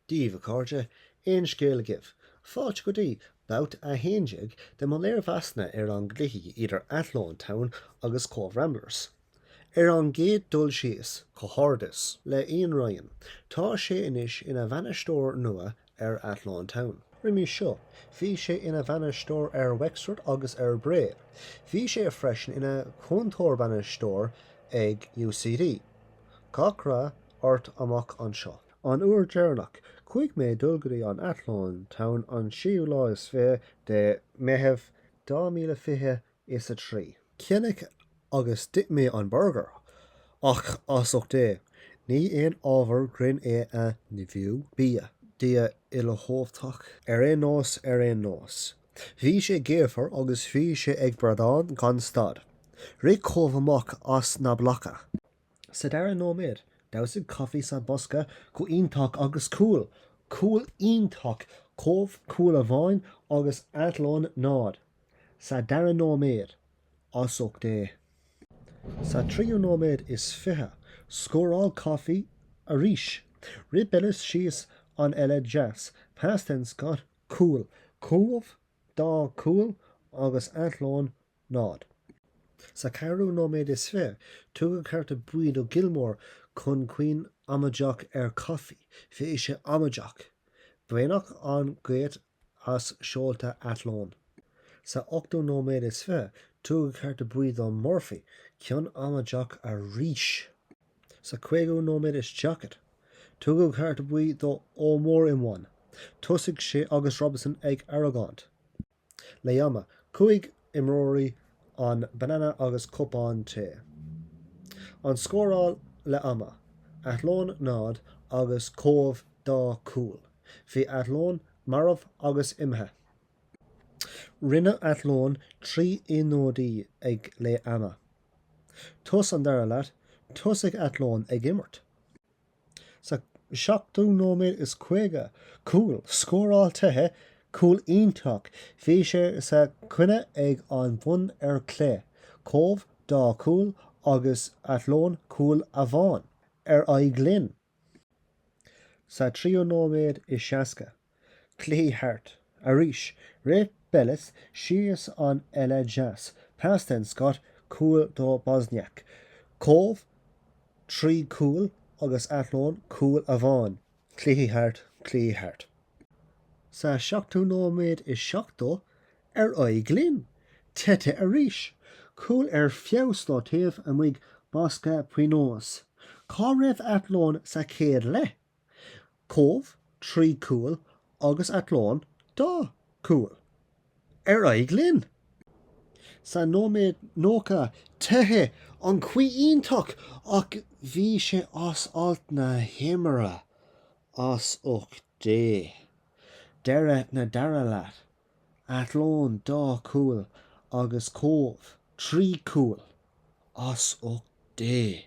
díbh, a chairde, aon scéal agaibh? Fáilte go dtí babhta a 11 de mo léirmheasanna ar an gcluiche idir Athlone Town agus Cobh Ramblers. Ar an gcéad dul síos, comhghairdeas le Ian Ryan, tá sé anois ina bhainisteoir nua ar Athlone Town. Roimhe seo, bhí sé ina bhainisteoir ar Wexford agus ar Bray. Bhí sé freisin ina chúntóir-bainisteoir ag UCD. Gach rath ort amach anseo. An uair dheireanach chuaigh mé dul go dtí an Athlone Town an séú lá is fiche de Mheitheamh dhá míle fiche is a trí, cheannaigh agus d'ith mé an burgar, ach as ucht Dé, ní aon ábhar grinn é a nimhiú bia. Dia uilechumhachtach. Ar aon nós, ar aon nós, bhí sé gaofar agus bhí sé ag brádán gan stad. Rith Cobh amach as na blocanna. Sa dara nóiméad, dhamhsaigh Coffey sa bosca go iontach agus cúl, cúl iontach, Cobh cúl amháin agus Athlone 0, sa dara nóiméad, as ucht Dé. Sa tríú nóiméad is fiche, scóráil Coffey arís, rith Bellis síos an eite deas, pas den scoth, cúl, Cobh dá cúl agus Athlone 0. Sa cheathrú nóiméad is fiche, tugadh cárta buí do Gilmore chun cion amaideach ar Coffey, bhí sé amaideach, baineadh an ghaoth as seolta Athlone. Sa ochtú nóiméad is fiche, tugadh cárta buí do Murphy, cion amaideach arís. Sa chúigiú nóiméad is daichead, tugadh cárta buí do Omorehiomwan, thosaigh sé agus Robinson ag argóint. Leath-ama, cúig imreoirí, an banana agus cupán tae. An scóráil leath-ama, Athlone 0 agus Cobh 2 cúl, bhí Athlone marbh agus imithe. Rinne Athlone trí ionadaí ag leath-ama. Tús an dara leath, thosaigh Athlone ag imirt. Sa 7ú nóiméad is 50 cúl, scóráil Tuite cúl iontach, bhí sé sa chúinne ag an bhun ar chlé, Cobh dá cúl agus Athlone cúl amháin ar aghaidh linn. Sa 3ú nóiméad is 60. Cluiche thart. Arís, rith Bellis síos an eite deas, pas den scoth, cúl do Bosnjak, Cobh, trí chúl agus Athlone cúl amháin. Cluiche thart, cluiche thart. Sa seachtú nóiméad is seachtó, ar aghaidh linn! Tuite arís. Cúl ar feabhas do taobh amuigh bosca pionóis. Cá raibh Athlone sa chéad leath? Cóbh, trí cúil agus Athlone, dá cúil. Ar aghaidh linn! Sa nóiméad nócha teith an chaoi iontach ach bhí sé as alt na himeartha, as ucht Dé. Deireadh na dara leath, Athlone dá cúil agus Cóbh, trí cúil, as ucht Dé!